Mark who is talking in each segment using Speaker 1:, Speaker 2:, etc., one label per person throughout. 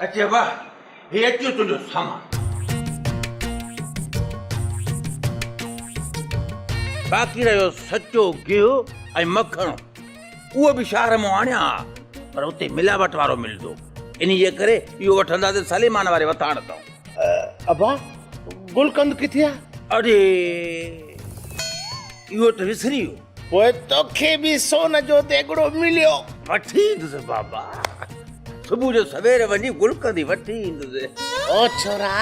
Speaker 1: اچي واه هي اچيو تنهنجو سامان باقي رهيو سچو گيهو ۽ مکڻ اهو به شهر مون آڻيا ها پر اتي ملاوٽ وارو ملندو انهيء ڪري اهو وٺنداسين سليمان واري وٿاڻ تان ابا
Speaker 2: گلقند ڪٿي آ؟
Speaker 1: اڙي اهو ته وسري ويو. پوء توکي
Speaker 2: به سون جو ديڳڙو مليو. وٺي ايندس
Speaker 1: بابا. صبح جو سوير وڃي گلقند ئي وٺي ايندس. او ڇورا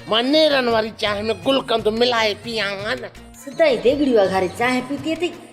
Speaker 2: مان نيرن واري چانهه ۾ گلقند ملائي پيئان ها نه. سدائين ديڳڙيون
Speaker 3: اگهاري چانهه پيتي اٿئي.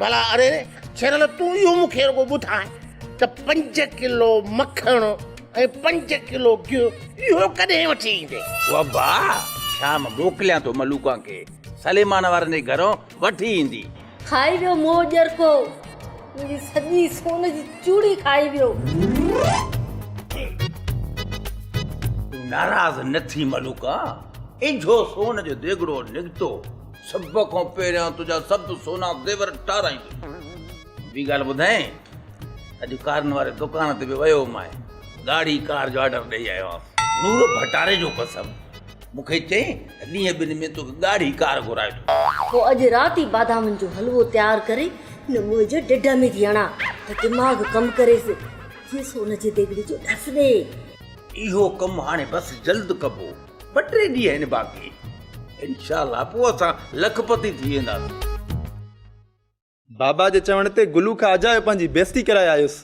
Speaker 2: ڀلا اري ڇيرل تون اهو مون کي رڳو ٻڌاء ته پنج ڪلو مکڻ ۽ پنج ڪلو گيهه اهو ڪڏهن وٺي ايندي وابا
Speaker 1: شام موڪليان ٿو ملوڪان کي سليمان وارن جي گهرون وٺي ايندي. کائي ويو
Speaker 3: منهن ڄرڪو منهنجي سڄي سون جي چوڙي کائي ويو. تون
Speaker 1: ناراض نه ٿي ملوڪان اجهو سون جو ديڳڙو نڪتو سڀ کان پهريان تنهنجا سڀ سونا زيور ٽارايندس. ٻي ڳالهه ٻڌايئي ته اڄ ڪارن واري دڪان تي به ويو هئمانء، ڳاڙهي ڪار جو آرڊر ڏيئي آيو آهيان. نور ڀٽاري جو قسم، مون کي چيائين ته ڏينهن ٻن ۾ توکي ڳاڙهي ڪار گهرائي ٿو. پوء اڄ
Speaker 3: رات ئي بادامن جو حلوو تيار ڪري هن موهي جي ڍڍ ۾ ٿي هڻان ته دماغ ڪم ڪريس، کيس سون جي ديڳڙي جو ڏس ڏي. اهو
Speaker 1: ڪم هاڻي بس جلد ڪبو. ٻه ٽي ڏينهن آهن باقي انشاء الله پوء اسان لکپتي ٿي وينداسين. بابا
Speaker 4: جي چوڻ تي گلو کان اجايو پنهنجي بيستي ڪرائي آيس.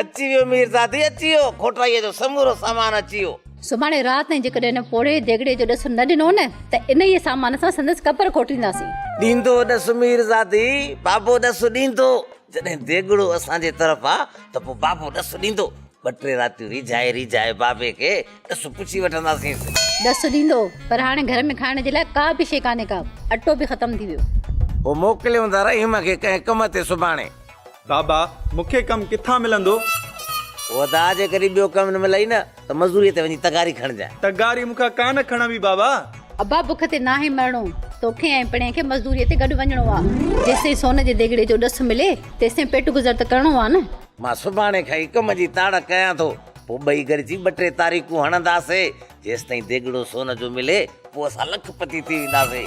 Speaker 4: اچي
Speaker 5: ويو ميرزادي اچي ويو کوٽائيء جو سمورو سامان اچي ويو. سڀاڻي رات تائين
Speaker 6: جيڪڏهن هن پوڙهي ديڳڙي جو ڏس نه ڏنو نه ته انهيء سامان سان سندس قبر کوٽينداسين. ڏيندو ڏس
Speaker 5: ميرزادي، بابو ڏس ڏيندو. جڏهن ديڳڙو اسان جي طرف آ ته پوء بابو ڏس ڏيندو. ٻه ٽي راتيون ريجهائي ريجهائي بابي کي ڏس پڇي وٺنداسينس. ڏس ڏيندو
Speaker 6: پر هاڻي گهر ۾ کائڻ جي لاء ڪا به شيء ڪانهي ڪا. اٽو به ختم ٿي ويو. پوء موڪليون
Speaker 5: ٿا رحيم کي ڪنهن ڪم تي سڀاڻي. بابا
Speaker 4: مون کي ڪم ڪٿان ملندو؟
Speaker 5: ادا جي ڪڏهن ٻيو ڪم نه ملئي نه. ته مزوريء تي وڃي تغاري کڻجانء. تغاري مون کان ڪانه
Speaker 4: کڻبي بابا! ابا بک تي
Speaker 6: ناهي مرڻو. توکي ۽ پڻهيء کي مزدوريء تي گڏ وڃڻو آ. جيستائين سون جي ديڳڙي جو ڏس ملي، تيستائين پيٽ گذر ته ڪرڻو آ نه. مان سڀاڻي کان
Speaker 5: ئي ڪم جي تاڙ ڪيان ٿو. پوء ٻئي گڏجي ٻه ٽي تاريخون هڻنداسين. جيستائين ديڳڙو سون جو ملي، پوء اسان لک پتي ٿي وينداسين.